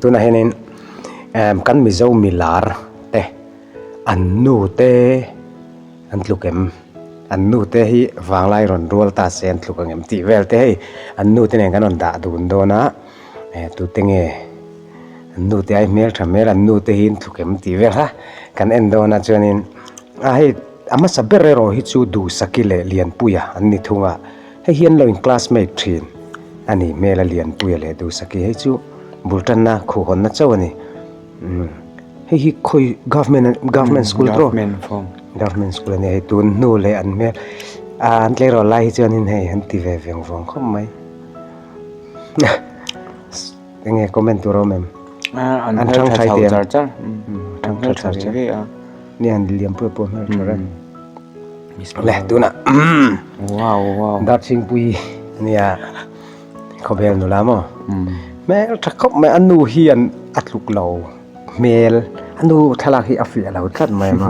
tunah hian in emm kan mizo milar te an nu te an tluk em an nu te hi vanglai rawn rual ta se an tluk ang em tih vel te hei an nu te nen kan rawn dah dun dawn a ehh tute nge an nu te ai hmel tha hmel an nu te hi an tluk em tih vel ha kan en dawn a chuan in a hei a hmasa ber erawh hi chu duhsaki leh lianpuia an ni thung a. Hei hian lo in classmate thin a nih hmel a Lianpuia leh Dusaki hei chu bul tanna khuh hawnna chauh a ni. Umm hei hi khawi government a government school tawh government school a ni hei tun hnu leh an hmel ah an tlei rawh lai hi chuan in hei an ti ve veng vawng khawp mai. Enge comment tur awm em? An chhang thlai tih ang. Chhang thlai char char. Ni an liam pui pui hmel tur em. Le tuna. Wow wow. Darching pui nia. Khobel nu la mo. Mel tha khop mai anu hi an atluk lo. Mel anu thalak hi a fiah lo tlat mai ma.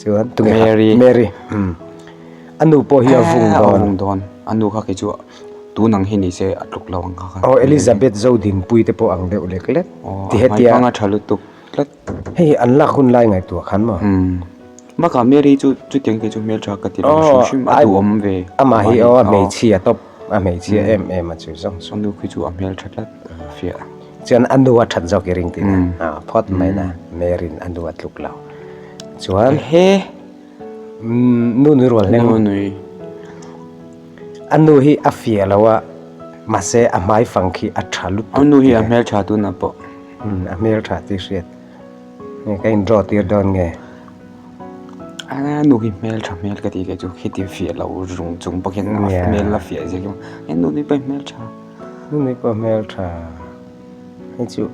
chuan tunge mary a nu pawh hi a vung dawn a nu kha khi chu tun ang hi ni se a tluk lo ang kha kha aw elizabeth zo dinpui te pawh ang deuh lek lek ti he tia hmanga tha lutuk tlat hei hi an lak hun lai ngaihtuah khan maw bakah mary chu chutiang te chu hmel tha ka ti lo hrim hrim a duhawm ve amah hi aw a hmeichhia tawp. A hmeichhia em em a chu zawng saw. A nu khi chu a hmel tha tlat a fiah. Chuan a nu a that zawk i ring tin a phawt mai na Mary in a nu a tluk lo chuan he Nu Nui Rualhleng Nu Nui a nu hi a fiah lo a mahse a hmai fang khi a tha lutuk a nu hi a hmel tha tuna pawh a hmel tha tih hriat ka in draw tir dawn nge. Aa nu hi hmel tha hmel ka tih leh chu khi ti fiah loh rung chung bawk hian a hmel la fiah zel rawh he nu nui pawh hmel tha nu nui pawh hmel tha hei chu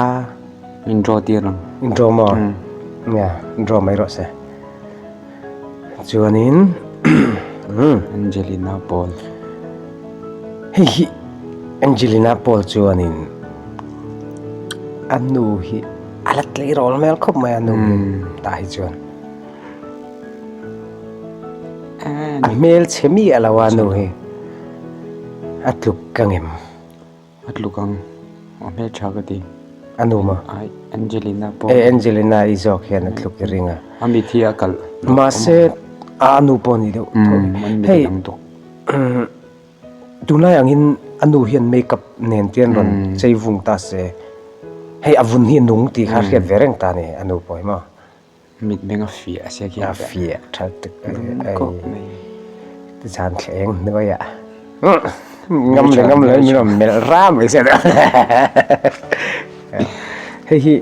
a min draw tir ang in draw maw nia draw mai rawh se chuanin Angelina Paul hei hi Angelina Paul chuanin a nu hi a la tleirawl hmel khawp mai a nu tah hi chuan a hmel chhe mi a lo a nu hi a tluk ka ngem a tluk ang a hmel tha ka ti a nu ma ai angelina pawh e angelina i zawk hian a tluk i ring a a mi thi a kal mahse a nu pawh ni deuh hei Tunlai angin a nu hian makeup nen te an rawn chei vung ta se, hei a vun hi a nung tih kha a hriat ve reng ta a ni, a nu pawh hi maw. Mitmeng a fiah a siak hian a fiah tha tak a ni, ei zan thleng hnuaia ngam leh ngam loin min rawn melh ra mai se lo. Hei hi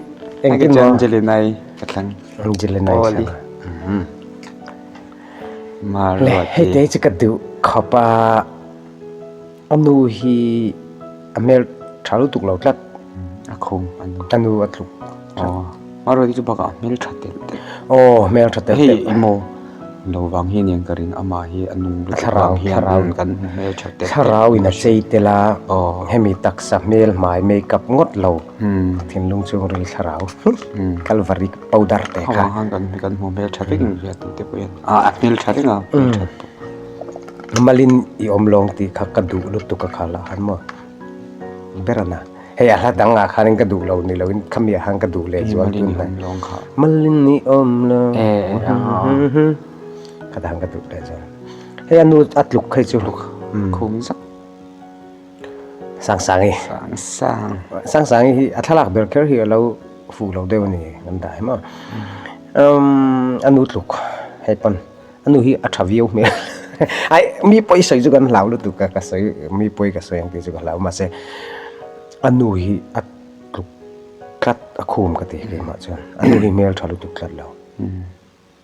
engtin maw? Angelina-i ka thlang. Angelina-i ka thlang a. Hle, hete chu ka duh khawp a, a nu hi a melh tha lutuk lo tlat. A khum a nu. A nu a tluk tlat. Maruati chu bakah a hmel tha telh telh. Aw, a hmel tha telh telh. Hei emaw lo vang hi nen ka ring, amah hi a nu lutuk vang hian a rawn kan hmel tha telh telh. Thlarau in a chei telh a, hemi taksa hmel hmai makeup ngawt lo. Thinlung chu ril thlarau Calvary Powder te kha Hauha khan kan kan hmuh hmel tha reng ang hian tute pawh hian ah a hmel tha reng a hmel tha tawh Malin i awm lawng tih kha ka duh lutuk a khal a han maw ber a na hei a hla dangah khanin ka duh lo ni lo in khami ah khan ka duh leh chuang tun hnai Malin i awm lawng khata khan ka duh leh chuan hei a nu a tluk phei chu khum zap. Sangsangi. Sangsang. Sangsangi hi a thlalak ber kher hi a lo fuh lo deuh a ni kan tah em maw. Umm a nu tluk hei pawn a nu hi a tha viau hmel ai mi pawi sawi chu kan hlau lutuk ka ka sawi mi pawi ka sawi ang tih chu ka hlau mahse a nu hi a tluk tlat a khum ka ti hle mah chuan a nu hi hmel tha lutuk tlat lo.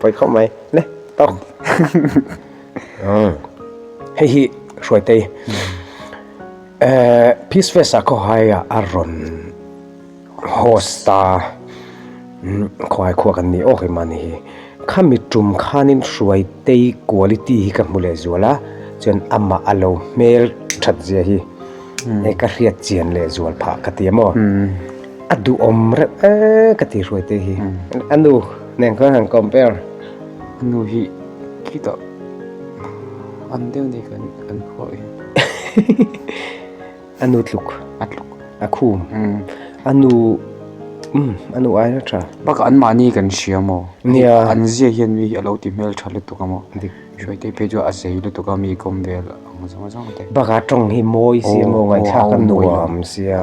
Pawi khawp mai le tawk hei hi hruaitei ehh peace fest ah khawhaia a rawn host a khawhai khuaa kan ni awk hi mahni hi khami tum khanin hruaitei quality hi ka hmu leh zual a chuan amah a lo hmel thatzia hi hei ka hriat chian leh zual phah ka ti a maw. a duhawm reuh a ka ti hruai te hi a nu nen khan han compare a nu hi khitah an deuh ni kan kan khawi a nu tluk a tluk a khum a nu um a nu ai na tha baka an mahni kan hria maw nia an zia hian mi hi a lo ti hmel tha lutuk a maw dik hruai te phei chu a zei lutuk a mi kawm vel ang zawng zawng te baka tawng hi mawi zia maw ngaihthak a nuam sia.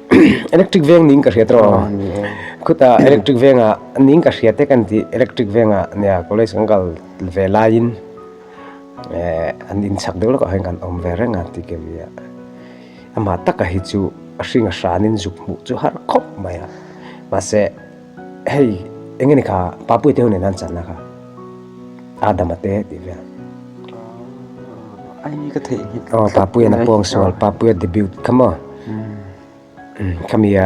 electric veng ning ka hria tawh a khuta electric venga ning ka hria tek an tih electric venga nia college kan kal ve laiin an in chak deuh lawkah hian kan awm ve reng a ti Kevia amah taka hi chu a hringa hranin zuk hmuh chu har khawp mai a mahse. Hei, eng nge ni kha pa puite hun enan chan na kha adam ate ti ve ai ka thei ni o pa puite na pong sual pa puite debut kamo kamia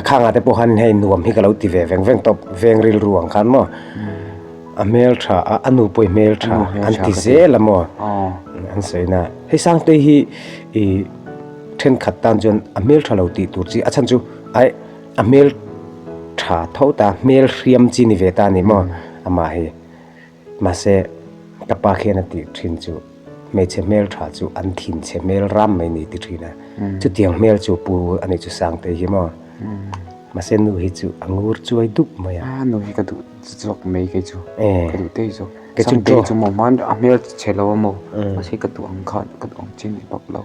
kha nga te po han hei nuam hi ka lo ti ve veng veng top veng ril ruang khan mo a mel tha a anu poi mel tha an ti zel amo an seina hei sang te hi i then khat tan chuan a mel tha lo ti tur chi a chan chu ai A hmel tha tho ta, hmel hriam chi ni ve ta ni maw amah hi. Mahse, ka pa khian a tih thin chu, hmeichhe hmel tha chu an thin che hmel ram mai ni ti thin a. Chutiang hmel chu pu a nih chu Sangtei hi maw. Mahse nu hi chu a ngur chuai dup mai a. A nu hi ka duh zawk mai kei chu, ka duh daih zawk. Sangtei chu maw hman a hmel che lo a maw, mahse ka duh ang khan ka duh ang chin bawk lo.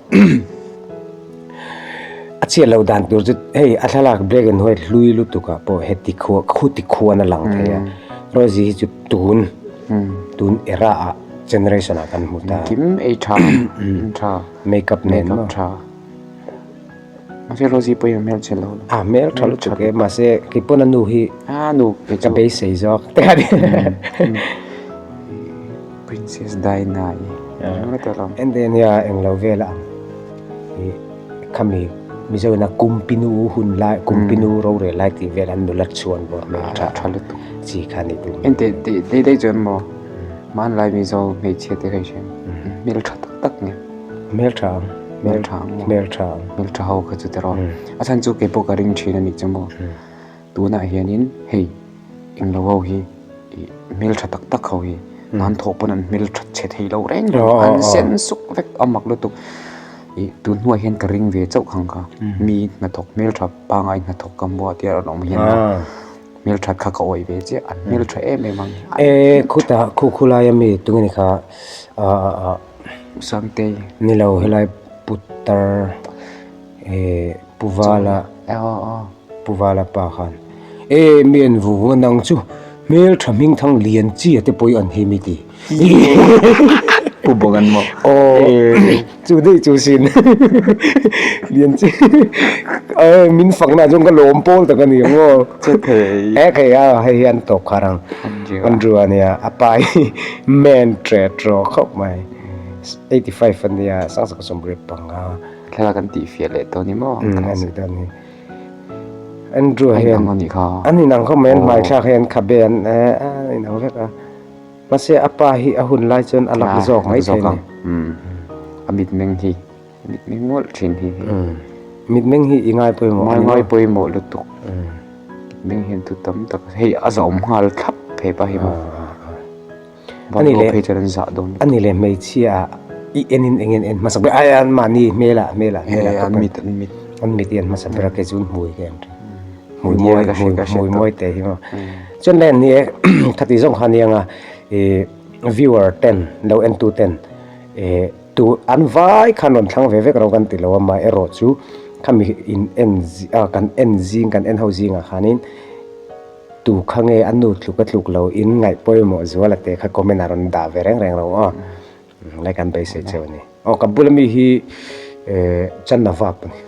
a chhiat lo dan tur chu hei a thlalak black and white hlui lutuk ah pawh he tikhua khu tikhuan a lang thei a Rosie hi chu tun tun era ah generation ah kan hmu ta a makeup nen maw. Mahse Rosie pawh hian a hmel ṭha lo. A hmel ṭha lutuk em, mahse kei pawn a nu hi ka beisei zawk a ti a ni. Princess Diana i hmel rawt alo. Endemia englo vel a ang i khami Mizoina kum pinu hun lai, kum pinu rorel lai tih vel an nula chuan bawr a hmel ṭha ṭha lutuk chi kha a nih duh. Engte daih daih chuan maw hmanlai Mizo hmeichhia te ka hre a, hmel ṭha tak tak nge. Hmeltha ang, hmeltha ang, hmeltha ang, hmeltha ho kha chu te rawh. A chhan chu kei pawh ka ring thin a nih chu maw. Tunah hianin hei englo ho hi hmeltha tak tak ho hi nan thawh pawn an hmeltha chhe thei lo reng reng a, an sen suk vek a mak lutuk. I tun hnuai hian ka ring ve chauh khang kha, mi hnathawk hmeltha pangai hnathawk ka hmu a tih a rawn awm hian hmeltha kha ka awih ve chiah, an hmeltha em em ang. Khutah, khu khulaia mi tunge ni kha Sangtei ni lo helai putar eh puvala puvala pa khan eh mi en vu vu a nang chu hmeltha hming thang lian chi a te pawh i an hlim i ti pu bawk an mawh eh chu daih chu sin lian chi eh min fak na chuan ka lawm pawl tak a ni ang aw che thei eh kei a hei hian tawp kha rang andrew a nia a pa hi. Main thread rawh khawp mai. Eighty five a nia sangsa ka sawm rip panga. Thlalak an tih fiah leh tawh ni maw? Umm a ni dawn ni. Andrew hian. A inang anih kha. An inang khawp mai an hmai thlak hi an khabe an inang vek a. Mahse a pa hi a hun lai chuan a lak zawk mai thei a ni. Umm a mitmeng hi. Mitmeng ngawlh thin hi. Mitmeng hi i ngai pawimawh a ni maw? I ngai pawimawh lutuk. Mitmeng hian thu tam tak hei a zawm nghal thlap phei pah hi maw? Bawlhhlawh phei chuan an zah dawn lutuk. A ni leh hmeichhia i enin eng in en hmasa ber ai an mahni hmela hmela hmela an mit an mit an mit i en hmasa ber a kei chu hmui ka em thin. Hmui mawi ka hre ka hre hmui mawi teh hi maw? Chuan len ni e khati zawk kha aniang a viewer ten lo en tu ten e Tu an vai khan rawn thlang ve vek ro kan ti lo a, mah erawh chu khami in en zing ah kan en zing kan en ho zingah khanin tu kha nge a nu tluk a tluk lo in ngaih pawimawh zual a teh kha comment ah rawn dah ve reng reng lo aw lai kan beisei cheu a ni. Aw ka bula mi hi ehh Channa vak a ni.